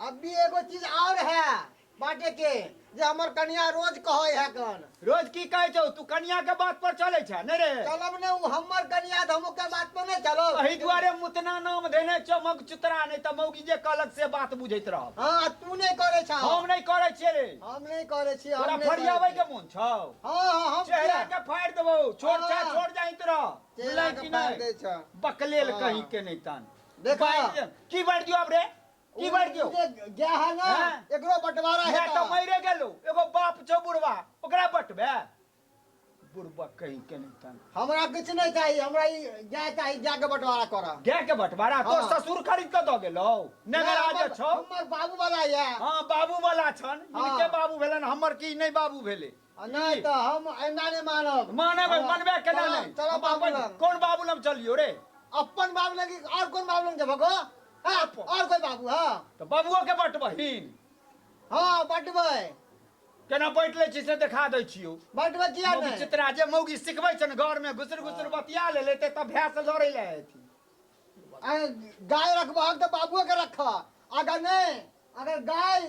अभी एगो चीज और है बाटे के जे हमर कनिया रोज कहै है कन रोज की कहै छौ तू कनिया के बात पर चलै छ नै रे चलब ने उ हमर कनिया धमु के बात पर नै चलो एही दुआरे मुतना नाम देने छौ मग चुतरा नै त मौगी जे कहलक से बात बुझैत रह हां तू नै करै छ हम नै करै छियै रे हम नै करै छी तोरा फरियाबै के मन छौ हां हां हम चेहरा के फाड़ देबौ छोड़ जा छोड़ जाइत रह बुझलै कि नै बकलेल कहीं के नै तन देखा बाजि दियौ। की बाजि दियौ आब रे की बाजि दियौ गया है ना हाँ। एकरो बंटवारा है मैं तो मरे गेलू एगो बाप छौ बुढ़वा ओकरा बटबे बुढ़वा कही के नहीं तन हमरा कुछ नहीं चाहिए हमरा ई गाय चाहिए गाय के बंटवारा करा गाय के बटवारा तो हाँ। ससुर खरीद के दऽ गेलौ नगरा जे छौ हमर बाबू वाला है हाँ बाबू वाला छन हाँ। इनके बाबू भेलन हमर की नहीं बाबू भेले नहि तऽ हम एना नहि मानब मानब मनबे केना नहि चल बाबू लग कोन बाबू लग चलियो रे अपन बाबू लग और कोन बाबू लग जेबो गो हां और कोई बाबू हां तऽ बाबूओ के बटबहिन हां बटबै केना बैठ लै छी से देखा दै छियो बटबै किया नहि चित्रा जे मौगी सिखबै छन घर में घुसर घुसर बतिया ले लेते तऽ भैंस लड़ै ले हेती गाय रखबहक तऽ बाबूओ के रखा अगर नहि अगर गाय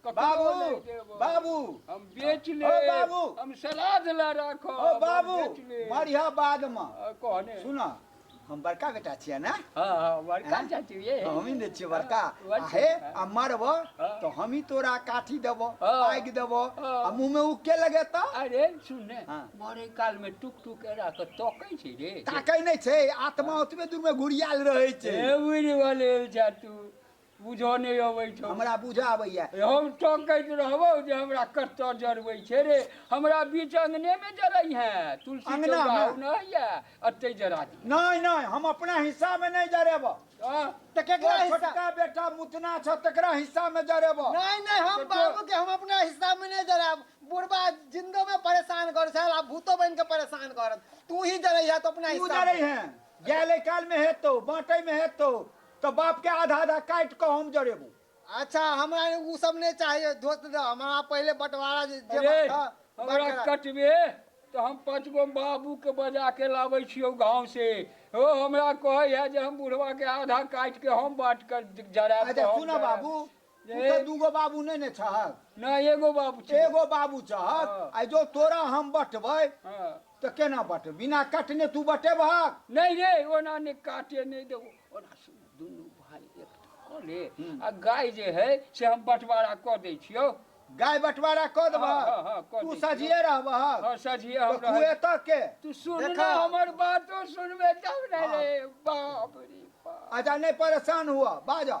बाबू नहीं देबो। बाबू हम बेच ले ओ बाबू। हम सलाद ला राखो ओ बाबू मरिया बाद में कहने सुन हम बड़का बेटा छियै ने हाँ हाँ बड़का हाँ? चाची ये तो हमही ने छियै बड़का हाँ, आ हे आ मरब हाँ। तो हमही तोरा काठी देब हाँ। आगि देब हाँ। आ मुँह में उके लगे तो अरे सुनने हाँ। बड़े काल में टुक टुक के राख तकै छै रे ताकै नहि छै आत्मा ओतबे दूर में घुरियाल रहै छै ए उड़ि वाले जा तू बुझऽ नहि अबै छौ हमरा बुझऽ आबैया हम टोकैत रहबौ जे हमरा कतऽ जरबै छै रे हमरा बीच अङ्गनेमे जरै है तुलसी अंगना चौरा मे? नहि होइया अतै जरा दी नहि नहि हम अपना हिस्सामे नहि जरेबऽ आ, तऽ केकरा तोहर हिस्सा छोटका बेटा मुतना छ तकरा हिस्सामे जरेबऽ नहीं नहीं हम तो- बाबू के हम अपना हिस्सा में नहीं जराब बुढ़बा जिंदो में परेशान कर साल आ भूतो बन के परेशान करत तू ही जरैया तो अपना तू हिस्सा जरै में। है जाय ले कालमे हेतौ बाँटैमे हेतौ तऽ बापकेँ आधा-आधा काटि कऽ हम जरेबौ। अच्छा, हमरा ओ सभ नै चाहिए। दोस्त दऽ, हमरा पहिले बँटवारा जे बात अरे, छह, बात हमरा करा। कटबे तऽ हम पाँच गो बाबूकेँ बजा कऽ लाबै छियौ गाँवसँ। ओ हमरा कहै हए जे हम बुढ़बाकेँ आधा काटि कऽ हम बाँटि कऽ जराएब अच्छा, तऽ हम सुनह जराएब। बाबू। तुमके दूगो बाबू नहि ने छहक नहि एगो बाबू छै एगो बाबू छहक हाँ। आ जो तोरा हम बटबै हाँ। तऽ केना बटबै बिना कटने तू बटेबहक नहि रे ओना नहि काटे नहि देबो ओना से दुनू भाय एक कऽ ले आ गाय जे है से हम बंटवारा कऽ दै छियौ गाय बंटवारा कऽ हाँ, हाँ, हाँ, देबहक कऽ तू दै सजिए हँ रहबहक सझिए हम तऽ रहै खुएतऽ के तू सुन ने देखा। हमर बातो सुनबे तब ने रे बाप रे बाप अच्छा नहि परेशान हुअ बाजऽ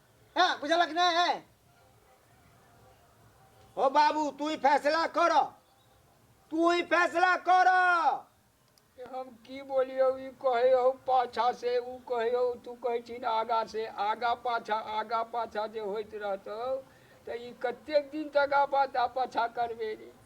है बुझलक ना है हो बाबू तू ही फैसला कर तू ही फैसला कर कि हम की बोलियो ई कहे हो पाछा से ऊ कहे हो तू कहे छिन आगा से आगा पाछा आगा पाछा जे होइत रहतौ तऽ ई कतेक दिन तक आबा दा पाछा करबे रे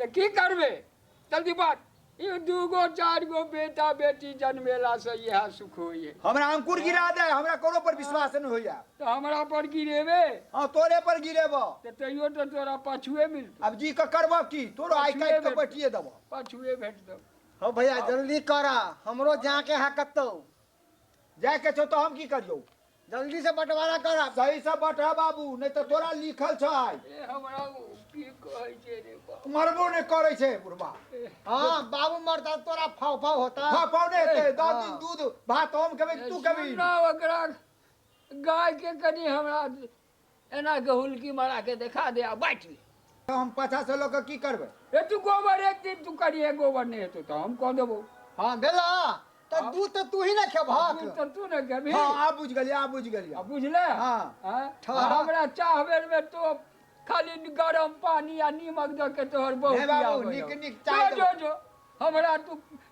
तऽ की करबै जल्दी बात ई दूगो चारि गो बेटा बेटी जनमेलासँ इएह सुख होइए हमरा अंकुर गिरा दे हमरा कोनो पर विश्वास नहि होइया तऽ हमरा पर गिरेबे हाँ तोरे पर गिरेबो तऽ तैयो तऽ तोरा पाछुए मिलतौ अब जी के करबो की तोरो आइ काटि के बैठिए देबो पाछुए भेट दौ हो भैया जल्दी कर हमरो जाके है कतौ जाए के छौ तो हम की करियौ जल्दी से बंटवारा कर अब सही से बटह बाबू नहीं तो तोरा लिखल छै ए हमरा ओ की कहै छै रे बाप मरबो नहीं करे छै बुढ़वा हाँ बाबू मरता तोरा फाव फाव होता हाँ पौने हेतै दस हाँ। दिन दूध भात हम खेबै तू खेबै सुन ना ओकरा गाय के कनी हमरा एना के हुलकी मारा के देखा दे आ बाँटि ले तो हम पाछा से लोग की करबे ए तू गोबर एक दिन तू करिए गोबर नहीं हेतौ तो हम कह देबो हाँ भेला तो दू तो तू ही ना खेबहक तू तो तू ने कहबी हाँ आ बुझ गेलिए आ बुझ गेलिए आ बुझले हाँ। हाँ? ठहरा। आ हमरा चाह बेर में तो खाली गरम पानी आ नीमक दऽ के तोहर बहुत हे बाबू, बियाह भऽ नीक- जाउ। नीक चाय जो दो। जो जो हमरा तू